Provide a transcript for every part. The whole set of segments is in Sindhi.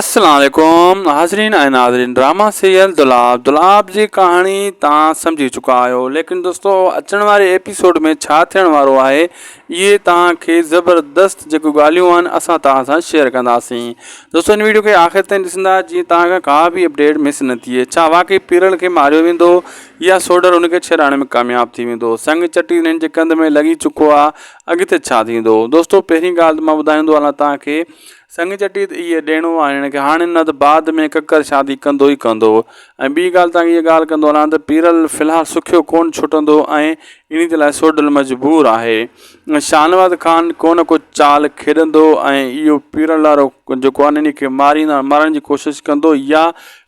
السلام عليڪم حاضرين ۽ ناظرين ڊراما سيريل دولاب دولاب جي ڪهاڻي توهان سمجهي چڪا آهيو ليڪن دوستو اچڻ واري ايپيسوڊ ۾ ڇا ٿيڻ وارو آهي اهي توهان کي زبردست جيڪو ڳالهيون آهن اسان توهان سان شيئر ڪنداسين دوستو ان ويڊيو کي آخر تائين ڏسندا جيئن توهان کان ڪا به اپڊيٽ مس نه ٿئي ڇا واقعي پيرل کي ماريو ويندو يا سوڊر ان کي ڇيڙائڻ ۾ ڪامياب ٿي ويندو سنگ چٽي انهن جي ڪنڌ ۾ لڳي چڪو آهي اڳتي ڇا ٿيندو دوستو پهرين ڳالهه ته مان ٻڌائيندو هلان توهان کي سڱ چٽي ته اهي ڏيڻو آهي هن کي هاڻي نه ته بعد ۾ ڪڪر شادي ڪندو ئي ڪندو هو ۽ ٻي ڳالهه توهان کي اها ڳالهه ڪندو هلان ته پيرل في الحال سکيو ڪونه ڇٽندو ۽ انهي جي لاء سوڍل مجبور آهي شاهنواز خان ڪو نه ڪو چال کيڏندو ۽ اهو پيرل لارو جيڪو آهي انهي کي ماريندا مارڻ جي ڪوشش ڪندو يا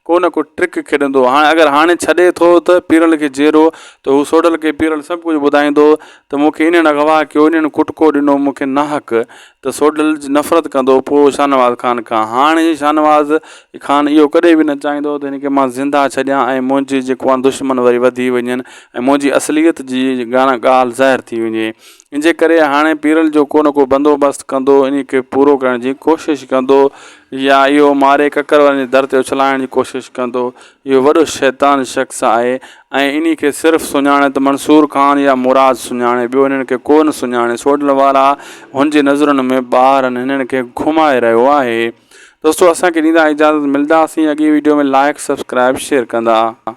ڪو نه ڪو ٽرڪ کيڏندو هاڻي اگر هاڻي ڇڏي ٿو ته پيرل کي جيئرو ته هو سوڍل کي پيرل سڀ ڪجهه ٻڌائيندو ته مون کي انهن اغوا ڪيو انهن ڪٽڪو ڏنو مون کي ناحق ته سوڍلج نفرت ڪندو پوء شاهنواز خان کان. هاڻ هي شاهنواز خان اهو ڪڏهن به نه چاهيندو ته هن کي مان زنده ڇڏيان ۽ منهنجي جيڪو آهن دشمن وري وڌي وڃن ۽ منهنجي اصليت جي ڄاڻ ڳالهه ظاهر ٿي وڃي. انجي ڪري هاڻي پيرل جو ڪو نه ڪو بندوبست ڪندو انهي کي پورو ڪرڻ جي ڪوشش ڪندو يا اهو ماري ڪڪر وارن جي در تي اڇلائڻ جي ڪوشش ڪندو اهو وڏو شيطان شخص آهي ۽ انهي کي صرف سڃاڻي ته منصور خان يا مراد سڃاڻي ٻيو هنن کي ڪو نه سڃاڻي سوڍل وارا هن جي نظرن ۾ ٻارن هنن کي گهمائي رهيو آهي دوستو اسان کي ڏيندا اجازت ملداسين اڳئي ويڊيو ۾ لائيڪ سبسڪرائيب شيئر ڪندا.